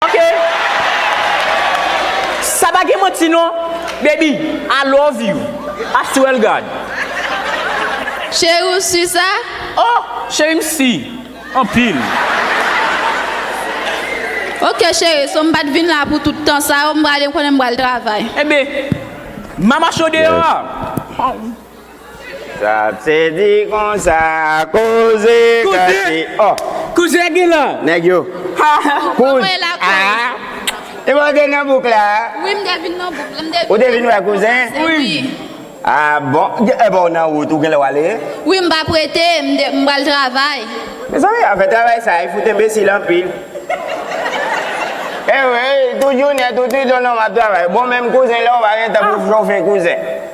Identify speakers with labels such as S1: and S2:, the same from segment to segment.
S1: Ok Sa pa gen manti non Baby I love you I swear God. Cheri
S2: ou su sa? Oh cheri
S1: m si anpil.
S2: Ok cheri so m pat vin la pou tout tan sa yo m prale m konnen m pral travay. Enben
S1: mama cho deyò a.
S3: Sa se di konsa koze kase oh.
S1: Kouzè
S3: gen la.
S1: Nèg yo. Ha
S3: ha. Kouz a. E bon
S2: gen nan
S3: bouk la. Wi m te vin nan bouk la. M te vin.
S2: Ou te vin wè kouzen?
S3: Wi.
S2: A
S3: bon. E bon ou nan wout ou genlè wale? Wi m pa prete
S2: m de m pral travay. Mezanmi afè
S3: travay sa e fout enbesil anpil. Ewe tout jounen tout nuit ou nan wap travay. Bon menm kouzen la ou pa gen tan pou chofe kouzen.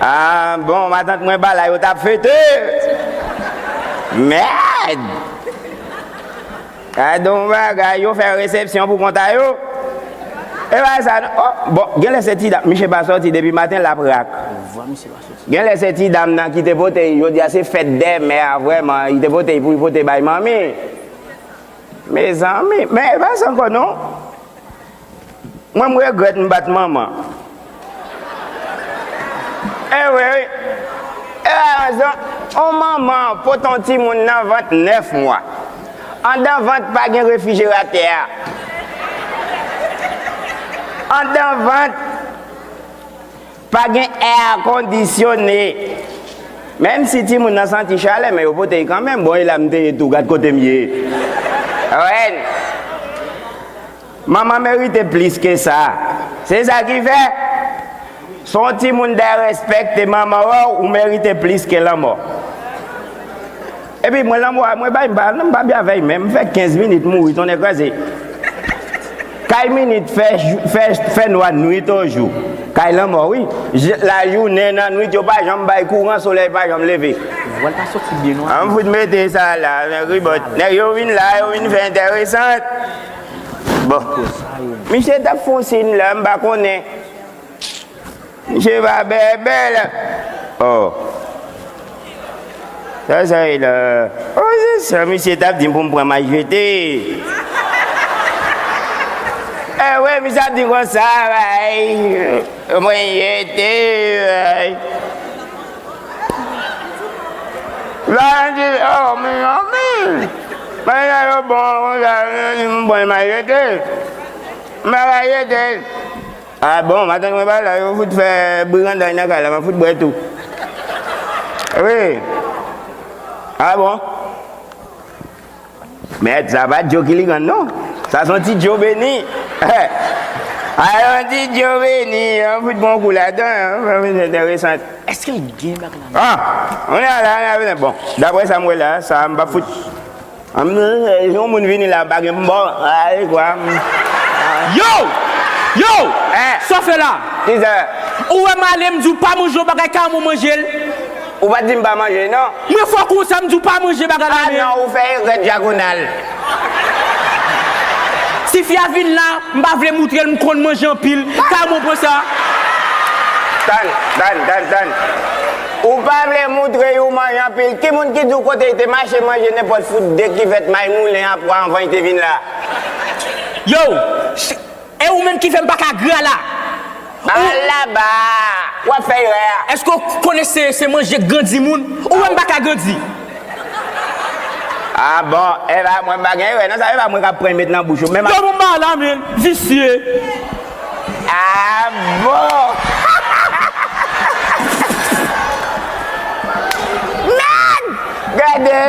S3: Ahh bon matant mwen ba la yo tap fete Merd Gadon bagay yo fè resepsyon pou konta yo E pa sa non oh bon genlè se ti dam misye pa soti depi maten lap rak Genlè se ti dam nan ki te pote y jodia se fèt dè mè a vrèman li te pote y pou y pote bay manmi Mezanmi men e pa sa ankò non Mwen m regrèt m bat manman. Ewe wi. E aranzan on manman pote on timoun nan vant 9 mwa. Andan vant pa gen refijeratè a. Andan vant pa gen èakondisyone. Menm si timoun nan santi chalè men yo pote l kanmenm. Bon e la m te ye tou gad kote m ye. Rèn. Manman merite plis ke sa. Se sa ki fè, si w on timoun dèrèspèkte manman w, ou merite plis ke lanmò. Epi mwen lanmò a, mwen bay, m pa byen avè l menm. M fè 15 minit mouri tonnè kraze. Kay minit fè, fè, fè nwa nwit o jou. Kay lanmò wi. Lajounen, nan nwit yo pa janm bay kouran, solèy pa janm leve.
S1: An m fout mete sa
S3: la, ribot. Nèg yo vin la, yo vin fè entèresant. Bon. Misye tap fon sin la m pa konnen. Misye pa bèbè la. Oh. Sa sa ye la. Oh se sa misye tap di m pou m pran majete. Eh wi misye ap di konsa. Mwen jete. Layan di, Oh, mi zanmi, men jan yo bon an konsa, yo di m pran mayete. M pa ka jete l. Ah bon, matant mwen pa la, yo fout fè briganday nan kay la, m ap fout bwè tou. Wi. Ah bon. Mèd sa pa Joe Killigan non. Sa son ti Joe Beni. A yon ti Joe Beni. Yon fout bon kou la dan. Yon fout enteresant. Eske l gen
S1: bak la menm? Ah!
S3: On a la, on a vle. Bon, dapre sa m wè la, sa a m pa fout. Si yon moun vini la bagen m bon. Ay kwa m. Yow!
S1: Yow! Sa w fè la? Kisa?
S3: Ou wè m ale m
S1: di w pa manje yon bagay ka m ou manje l? Ou pa dim
S3: pa manje nan. Mwen fò konsa m di
S1: w pa manje bagay la men. Ah non ou fè erè
S3: dyagonal.
S1: Si fi a vin la, m pa vle moutre l m konn manje anpil, kay mwen pran sa. Tann, tann,
S3: tann, tann. Ou pa vle moutre y ou manje anpil. Ki moun ki di w kote y te mache manje nenpòt fout de kivèt may moulen a pwa anvan y te vin la?
S1: Yow! E ou menm ki fè m paka gra la. Al
S3: laba! Wap fè erè a. Eske w konnen
S1: se manje k grandi moun? Ou wè m paka grandi.
S3: Ah bon, Eva mwen m pa gen erè nan sa Eva mwen kap pran met nan bouch ou. Yo bon ba la men,
S1: visye.
S3: Ah bon! Merd! Gade!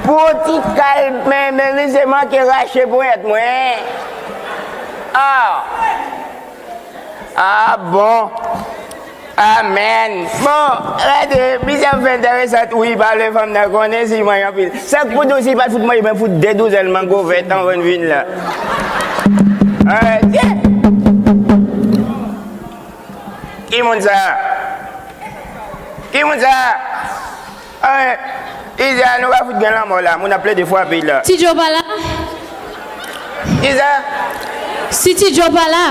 S3: Pou yon ti kal men men misye manke rache ponyèt mwen. Ah ah bon Amen Bon rete misye ap fè enteresant wi pa vle fanm nan konnen si manyen anpil Sa k pou tou si pat fout manyen mwen fout 2 douzèn mango vèt anvan n vin la Arrete Ki moun sa Ki moun sa Anh Iza nou pa fout gen lanmò la moun ap plede fwape la. Ti Joe pa la? Iza.
S2: Si ti Joe pa la?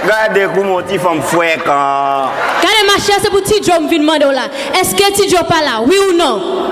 S3: Gade kouman yon ti fanm frekan. Gade ma chère se
S2: pou ti Joe m vin mande w la. Eske ti Joe pa la? Wi ou non?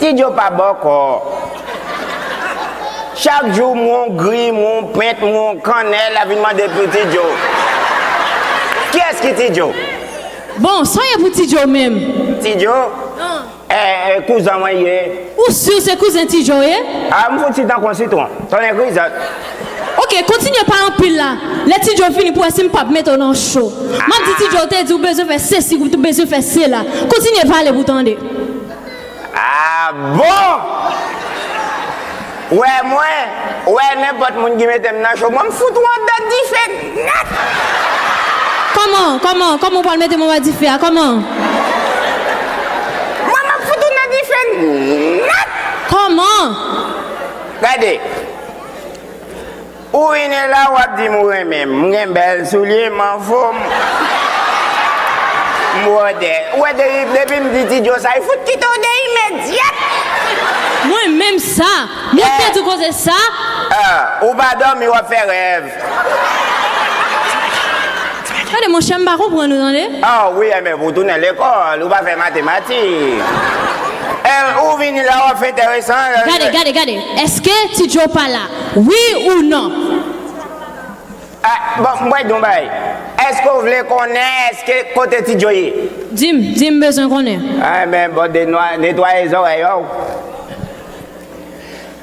S3: Ti djo pa bòkò. Chak jou mwen yon grim, yon pent, mwen yon kannèl ap vin mande pou ti djo. Kiyès ki ti djo? Bon,
S2: sa w ye pou ti djo menm? Ti djo?
S3: Eh, kouzan mwen ye. Ou sur se
S2: kouzen ti djo w ye? Ah, m fouti tankou
S3: yon sitwon. Tonnè krizant. Ok
S2: kontinye pa anpil la lè ti Joe fini pou wè sim pap mete w nan cho map di ti Joe ou te di ou bezwen fè sesi ou bezwen fè sela kontinye pale pou tande. Ah
S3: bon! Wè mwen wè nenpòt moun ki mete m nan cho mwen m fout ou andan dife nèt. Kòman
S2: kòman kòman ou pral mete m anba dife a kòman.
S3: Mwen map fout ou nan dife nèt. Kòman? Gade. Ou vini la wap dim ou renmen m. M gen bèl soulye, m an fom, m bwòdè. Ou wè depi m di ti djo sa, li fout kite w de imedyat.
S2: Mwen menm sa! Mwen pèdi koze sa! Ou pa
S3: dòmi wap fè rèv.
S2: Tande monchè m pa konprann ou tande. Aww wi MF ou
S3: tounen lekòl ou pa fè matematik MF ou vini la wap fè entèresan. Gade gade gade
S2: eske ti Joe pa la wi ou non. Ah
S3: bon m pral di w yon bagay eske w vle konnen eske kote ti Joe ye. Di m di m m bezwen
S2: konnen. Anben bon de
S3: netwaye zòrèy ou.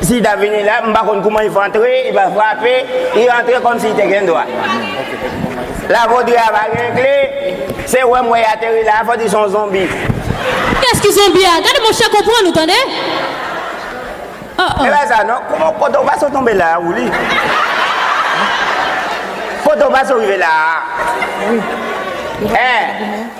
S3: Si li ta vini la, m pa konn kouman li fè antre, li pa frape, li rantre kòm si li te gen dwa. La Vodri a pa gen kle, se wèm wè li ateri la a, fò di son zonbi. Kès ki
S2: zonbi a? Gade monchè konprann nou tande. Oh oh.
S3: E pa sa non, kouman poto pa so tonbe la a ou li? Poto pa so rive la a? Eh!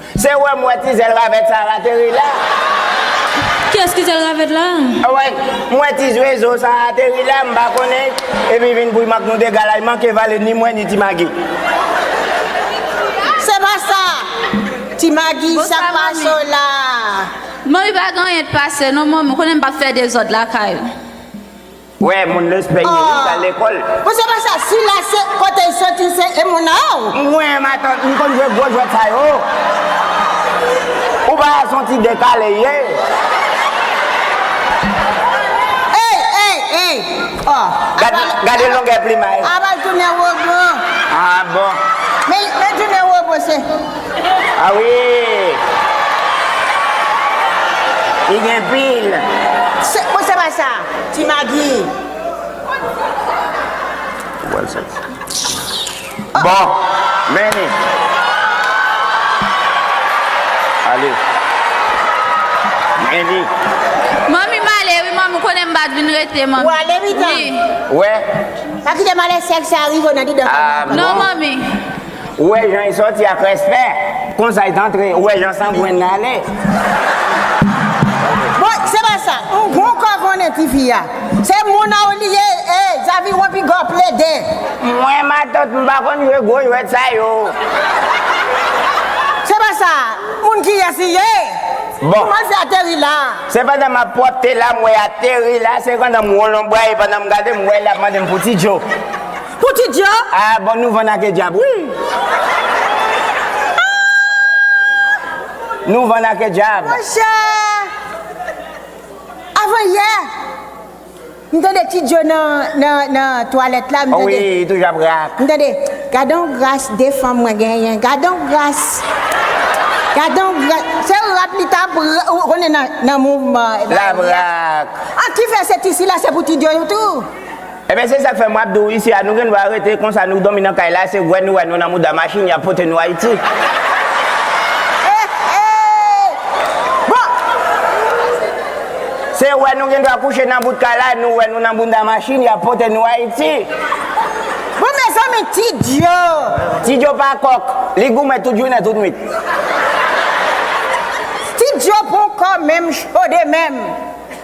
S3: Se wè m wè ti zèl ravèt sa al ateri la.
S2: Kiyès ki zèl ravèt la? Away, m wè
S3: ti zwezo sa a ateri la, m pa konnen, epi vin pou y mank nou dega la, y manke vale ni mwen ni Ti Magi.
S4: Se pa sa! Ti Magi, sa k pase w la a? Manmi pa
S2: gen anyen k pase non manmi, ou konnen m p ap fè dezòd lakay ou. Wè
S3: moun lespè ye wi pral lekol. Bon se pa sa sila
S4: se kotel soti se emona a ou. Mwen matant m
S3: konn jwe gwo jwèt sa yo ou pa wè son ti dekale ye.
S4: Ey ey ey oh
S3: Gade longè plimay. Aba jounen robo.
S4: Ah bon. Men jounen robo se. Ah wi!
S3: Li gen pil. Bon se
S4: pa sa, ti magi.
S3: Bon, men li. Ale. Men li. Manmi m
S5: ale wi manmi, ou konnen m bat vin rete manmi. Ou ale wi tanm.
S4: Ou we.
S3: Pa kite
S4: malè sèk sa rive w nan didan fanmi an. Non manmi.
S5: Ou wè jan
S3: e sòti ak respè, konsa e t antre, ou wè jan sangwen nan ale.
S4: Bon se pa sa, ou gon kò konnen ti fi a. Se moun a ou li ye ee zaviwon pigaw plede. Mwen matant
S3: m pa konn jwe gwo jwèt sa yo.
S4: Se pa sa, moun kiyès li ye? Bon. Kouman l
S3: fè ateri
S4: la? Se pandan m ap
S3: pwòpte la m wè ateri la, se pandan m won lonbray e pandan m gade m wè li ap mande m pou ti djo. Pou ti dya.
S4: Ah bon nou vann ake
S3: dyab wi Nou vann ake dyab. Monchè
S4: Avan yè M tande ti dyo nan twalèt la m tande Wi li toujou ap
S3: rap M tande Gadon
S4: gras 2 fanm mwen genyen Gadon gras Gadon gras Se rap li tap ou konnen nan mouvman Lap rap
S3: An kifè se
S4: ti sila se pou ti dyo tou Ebyen se sak
S3: fè map di w isi a nou gendwa rete konsa nou domi nan kay la se wè nou wè nou nan mouda machin yap pote nou ayiti. Se wè nou gendwa kouche nan bout kay la nou wè nou nan bounda machin yap pote nou
S4: ayiti. Ti djo pa
S3: kòk li goumen tout jounen tout nwit.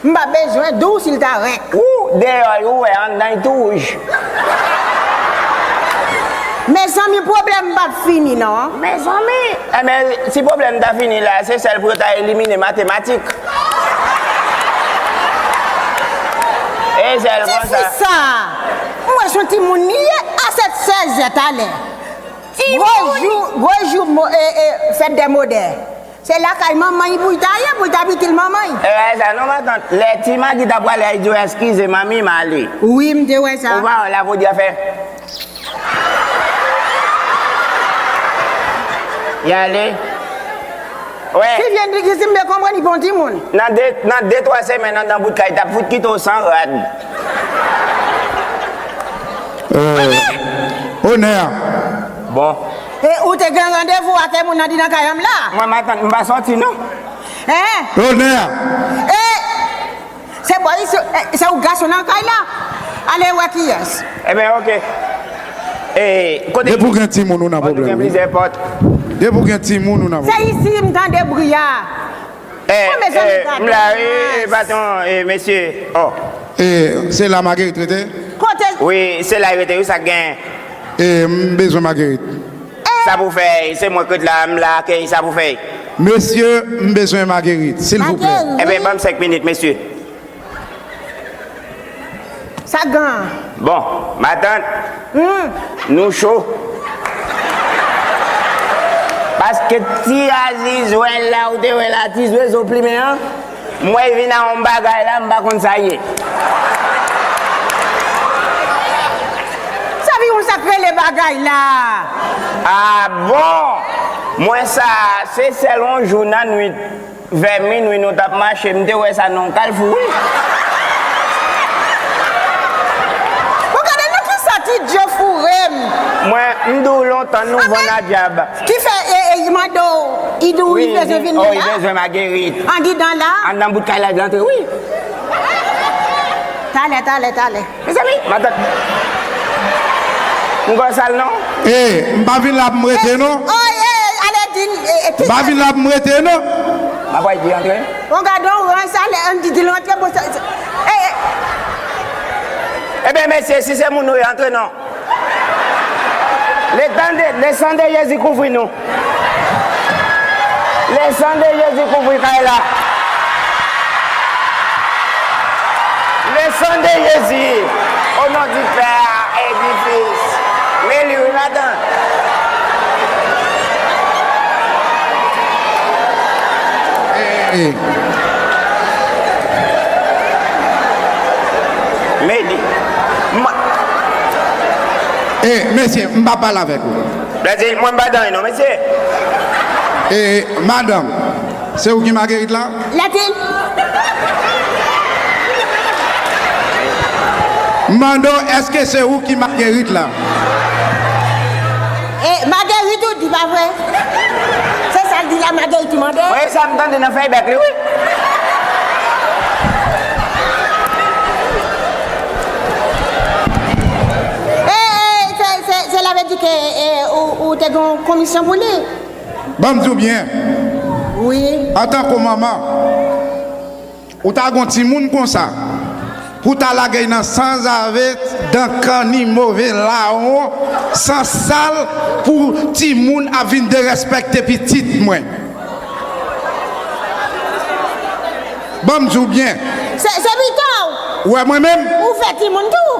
S4: M pa bezwen di w si l ta renk. Ou deyò y
S3: ou wè anndan y tou wouj.
S4: Mezanmi pwoblèm pa p fini non. Mezanmi!
S3: Enben, si pwoblèm ta fini la a, se sèl pou yo ta elimine matematik. E sèl konsa. Kiyès li sa a?
S4: M wè s on timoun li ye. A 7, 16 zè talè. Gwo jou, gwo jou mo, e, e, fèt dè modè. Se lakay manmany pouy ta ye pouy ta pitil manmany. E wè sa non matant,
S3: lè ti Magi ta prale a li di w eskize manmi m ale. Wi m te wè sa.
S4: Ou pa wè la pou di a fè.
S3: Li ale. Wè. Si Jendrik di
S4: si m te konprann li pa yon timoun. Nan de nan de twa
S3: semèn andan bout kay tap fout kite w san rad.
S6: Onè! Onè! Bon.
S3: E ou te
S4: gen randevou ake moun nan di nan kay an m la. Mwen m atann m pa soti
S3: non. Eeh.
S4: Lonè a.
S6: Eeh
S4: se bò isi se ou gason nan kay la ale wè kiyès. Ebyen ok.
S3: Depi w gen timoun ou nan
S6: pwoblèm wi. Depi w gen timoun ou nan pwoblèm. Se isi m tande bri a.
S4: Eh, Bon, mezanmi, eh, gadon m la wi, eh,
S3: ras. baton, eh, mesye, oh. Eh, se
S6: la Marguerite rete? Kote l. Wi,
S4: se la y rete
S3: wi, sa k gen? Eh, m
S6: bezwen Marguerite. Eh. Sa pou
S3: fè, se mwen k ret la, m la ak, eh, sa pou fè. Mesye,
S6: m bezwen Marguerite, silvouplè. Marguerite. Eh ben, ban m senk minit,
S3: mesye.
S4: Sa gan an. Bon
S3: matant Nou cho. Paske ti aziz wè la ou te wè la ti zwezo plimen an m wè vin a yon bagay la m pa konn sa ye.
S4: Sa vin yon sak rele bagay la. Ah
S3: bon! Mwen sa se sèl yon jou nan nwit. Vè minwi nou tap mache m te wè sa nan yon kalfou wi.
S4: Bon gade nan kisa ti djo fourem. Mwen m
S3: di w lontan nou vann a dyab. Ki fè y
S4: mande w y di w y bezwen vin la. Wi y bezwen Magerit.
S3: Andidan la.
S4: Anndan bout kay la y vle antre
S3: wi. Talè
S4: talè talè. Mezanmi matant
S3: m gòl sal non. Hey m pa vin
S6: la pou m rete non.
S4: M pa vin la pou m rete
S6: non. M ap wè di
S3: antre. Bon gadon rans sa
S4: lè Andy di l antre bon sa.
S3: Ebyen mesye si se moun ou ye antre non. Le tan de, le san de Jezi kouvri nou. Le san de Jezi kouvri kay la. Le san de Jezi, o non di Pè a e di Fis. Mwen li wi madan.
S6: Hey.
S3: Medi, Mwen.
S6: E, mesye, m pa pale avèk ou. Bladi, Mwen m pa dany non,
S3: mesye.
S6: E,
S4: madanm,
S6: se ou ki Marguerite
S4: la?
S6: Bladi. M mande w, èske se ou ki Marguerite la?
S4: E Marguerite ou di pa vre? Se sal di la Marguerite ki mande? Mwen e sam tande nan
S3: feyback
S4: li wi. Ou te gen komisyon pou li? Banm di w
S6: byen,
S4: antanke w manman.
S6: Ou ta gon timoun konsa pou ta lagey nan sanzave dan kanni move lawon san sal pou timoun ap vin derèspèkte pitit mwen banm diw byen. Se pitow
S4: Ou wè mwen menm.
S6: Ou fè timoun tou.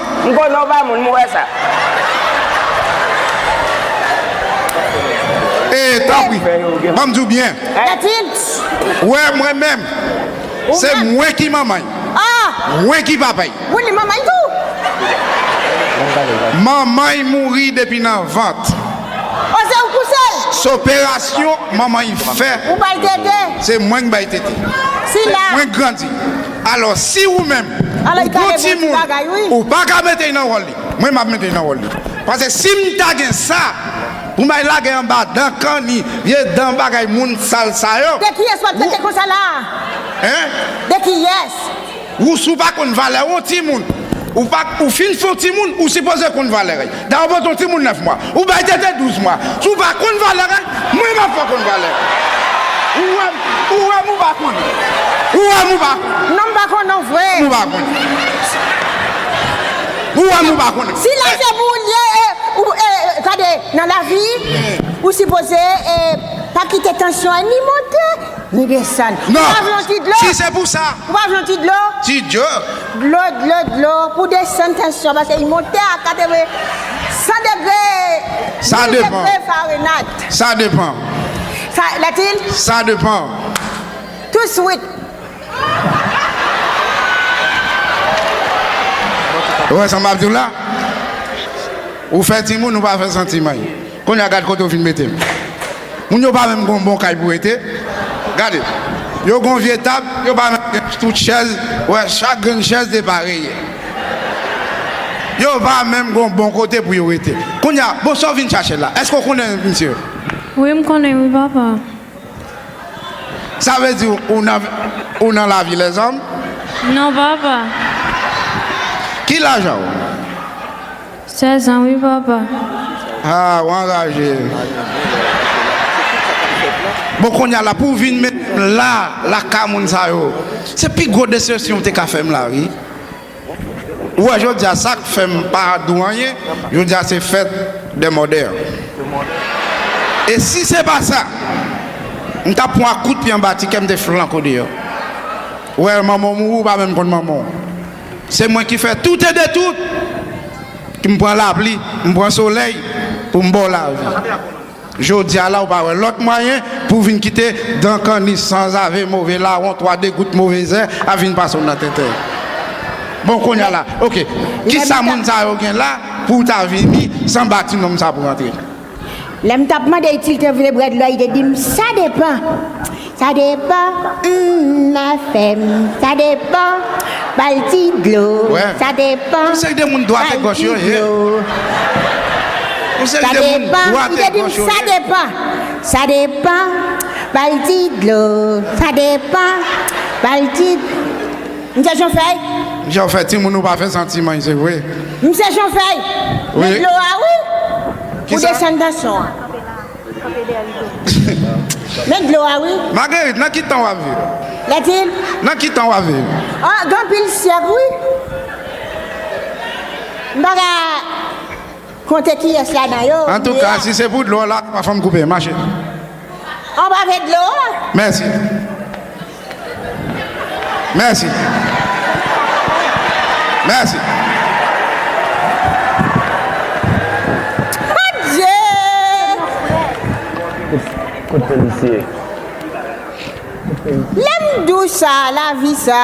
S6: M konnen w pa moun,
S3: m wè sa.
S6: E, tanpri, ban m di w byen. Kètil! Wè mwen menm. Se mwen ki manman y. Mwen ki papa y. Ou li manman y tou? Manman y mouri depi nan vant. O, se
S4: ou kouse l? S operasyon manman
S6: y fè. Ou ba l tete?
S4: Se mwen k bay
S6: tete. Se mwen k
S4: grandi.
S6: Alò si ou menm ou gon timoun ou pa ka mete nan wòl li, mwen m ap mete nan wòl li. Pase si m ta gen sa pou m al lage anba dan kanni, vye dan bagay moun sal sa yo. De kiyès w ap trete konsa
S4: la a? Hein?
S6: De kiyès?
S4: Ou si w pa konn
S6: valè yon timoun, ou pa ou fin fon timoun, ou sipoze konn valè li. Daw pran son timoun 9 mwa. Ou bay tete 12 mwa. Si w pa konn valè règ, mwen map fè w konn valè règ. Ou wèm, ou wèm ou pa konn. Ou wèm ou pa konn. Non m pa konn non
S4: vre. Ou wèm ou pa konn.
S6: Ou wèm ou pa konn. Si lè se pou ou l ye
S4: e ou e tande nan lavi ou sipoze e pa kite tansyon an ni monte ni desann. Ou pa vle yon ti dlo? Ou pa
S6: vle yon ti dlo?
S4: Ti dlo.
S6: Dlo dlo
S4: dlo pou desann tansyon pase li monte a 80 100 degre 1000 degre
S6: farenayt.
S4: Sa depan.
S6: Sa
S4: latin? Sa depan.
S6: Tou
S4: swit.
S6: Ou wè sa map diw la? Ou fè timoun ou pa fè santimay. Kounye a gad kote ou fin mete m. Moun yo pa menm gon bon kay pou rete. Gade. Yo gon vye tab, yo pa menm gen tout chèz, wè chak grenn chèz depareye. Yo pa menm gon bon kote pou yo rete. Kounye a, bon sa w vin chache la? Èske w konnen misye yo? Wi m konnen
S2: wi papa.
S6: Sa vle di ou nan, ou nan lavi lèzòm? Non papa. Ki lajan ou?
S2: 16 ans wi papa. Haa
S6: ou anraje. Bon konnya la pou vin met m la lakay moun sa yo se pi gwo desepsyon ou te ka fèm la wi ou wè jodia sak fèm pa di w anyen jodia se fèt dè mòdè e si se pa sa m tap pwan ak kout pye anba ti kèm te flank ou deyò ou wè manman w mouri ou pa menm konn manman w. Se mwen ki fè tout e de tout, ki m pran lapli, m pran solèy pou m ba w lavi. Jodi a la ou pa wè lòt mwayen pou w vin kite dan kanni, sanzave, move lawon, twa degout, move zè ap vin pase w nan tete. Bon kounye a la, ok, kisa moun sa yo gen la pou w ta vini san bati nonm sa pou w antre? Lè m t ap
S4: mande si l te vle brèd lò, li te di m, Sa depan. Sa depan, humm, afè m. Sa depan, ba l ti dlo. Sa
S6: depan,
S4: ba l
S6: ti dlo.
S4: Sa depan, li te di m, Sa depan. Sa depan, ba l ti dlo. Sa depan, ba l ti dlo. Msye Jon Fèy. Misye ou fè timoun
S6: ou pa fè santi manj se vre. Misye Jon Fèy.
S4: Men dlo a
S6: wi.
S4: Ou desann tansyon an. Men dlo a wi. Marguerite nan ki tan wap
S6: viv. Letty.
S4: Nan ki tan wap
S6: viv. Ah gen anpil
S4: syèk wi. M pa ka konte kiyès ladan yo. Antouka si se pou
S6: dlo la pa fèm koupe. Mache.
S4: Anba vè dlo a. Mèsi.
S6: Mèsi. Mèsi.
S4: Kout polisye. Lèm
S3: dou sa
S4: lavi sa.